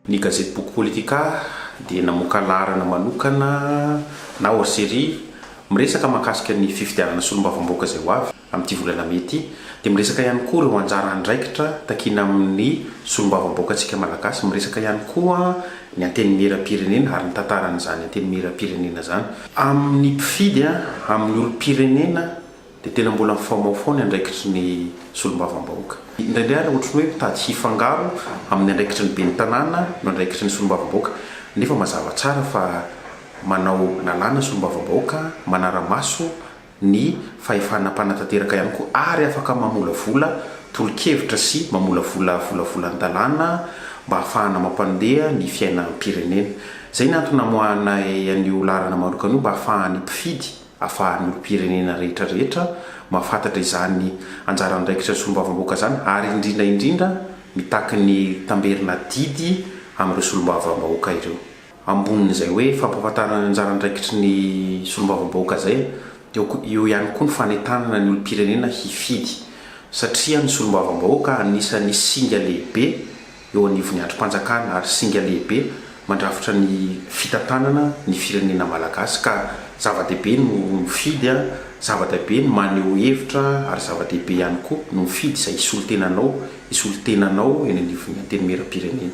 Ny gazety Boky Politika dia namoaka laharana manokana na hors-série miresaka mahakasika ny fifidianana solombavambahoaka izay ho avy. Amin'ity volana mey ity dia miresaka ihany koa ireo anjara andraikitra takiana amin'ny solombavambahoakantsika Malagasy, miresaka ihany koa ny Antenimierampirenena ary ny tantaran'izany Antenimierampirenena izany. Amin'ny mpifidy, amin'ny olompirenena dia tena mbola mifamaofao ny andraikitry ny solombavambahoaka. Indraindray ary ohatry ny hoe mitady hifangaro amin'ny andraikitry ny ben'ny tanàna no andraikitry ny solombavambahoaka nefa mazava tsara fa manao lalàna solombavambahoaka, manara-maso. ny fahefana mpanatanteraka ihany koa ary afaka mamolavola tolo-kevitra sy mamolavola volavolan-dalàna mba hahafahana mampandeha ny fiainam-pirenena. Izay ny antony namoahanay an'io laharana manokana io mba hahafahan'ny mpifidy, hahafahan'ny olom-pirenena rehetra rehetra mahafantatra izany anjara andraikitra solombavambahoaka izany ary indrindra indrindra mitaky ny tamberina adidy amin'ireo solombavambahoaka ireo. Ambonin'izay hoe fampahafantarana ny anjara andraikitry ny solombavambahoaka izay dia eo ihany koa ny fanentanana ny olom-pirenena hifidy satria ny solombavambahoaka anisan'ny singa lehibe eo anivon'ny andrim-panjakana ary singa lehibe mandrafitra ny fitantanana ny firenena malagasy ka zava-dehibe no mifidy zava-dehibe ny maneho hevitra ary zava-dehibe ihany koa no mifidy izay hisolo-tenanao hisolo-tenanao eny anivon'ny antenimieram-pirenena.